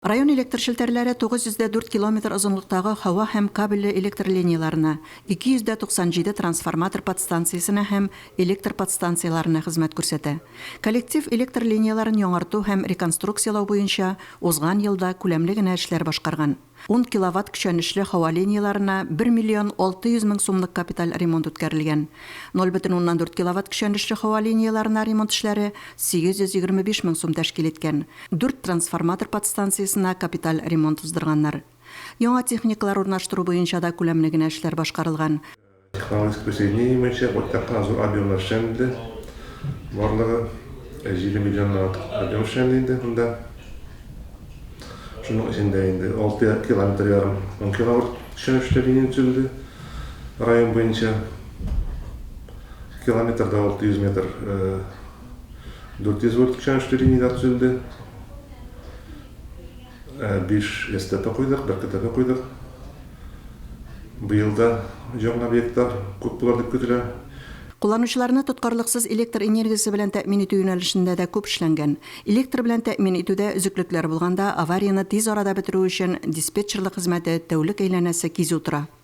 Район электр челтәрләре 904 километр озынлыктагы һава һәм кабельле электр линияләренә, 297 трансформатор подстанциясенә һәм электр подстанцияләренә хезмәт күрсәтә. Коллектив электр линияләрен яңарту һәм реконструкцияләү буенча узган елда күләмле генә эшләр башкарган. Ун киловатт көчәнешле һава линияләренә бер миллион алты йөз мең сумлык капиталь ремонт үткәрелгән. Ноль бөтен уннан дүрт киловатт көчәнешле һава линияләренә ремонт эшләре 825 мең сум тәшкил иткән. Дүрт трансформатор подстанциясенә капиталь ремонт уздырганнар. Яңа техникалар урнаштыру буенча да күләмле генә эшләр башкарылган. Технологик присоединение буенча уртак кына зур объемлар эшләнде. Барлыгы җиде миллионнан артык объем эшләнде инде монда. Шуның эчендә инде алты километр ярым ункиловольт төшенешле линия төзелде. Район буенча километрда алты йөз метр 400 вольт көчәнешле линияләр төзелде. 5 э, СТП куйдык, бер КТП куйдык. Быел да яңа объектлар күп булыр дип көтелә. Кулланучыларны тоткарлыксыз электр энергиясе белән тәэмин итү юнәлешендә дә күп эшләнгән. Электр белән тәэмин итүдә өзеклекләр булганда, аварияне тиз арада бетерү өчен диспетчерлык хезмәте тәүлек әйләнәсе кизү тора.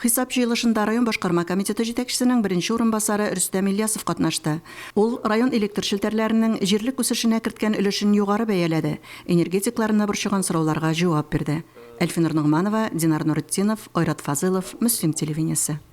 Хисап җыелышында район башкарма комитеты җитәкчесенең беренче урынбасары Рөстәм Ильясов катнашты. Ул район электр челтәрләренең җирлек үсешенә керткән өлешен югары бәяләде, энергетикларны борчыган сорауларга җавап бирде. Әлфинур Ногманова, Динар Нуретдинов, Айрат Фазылов, Мөслим телевидениесе.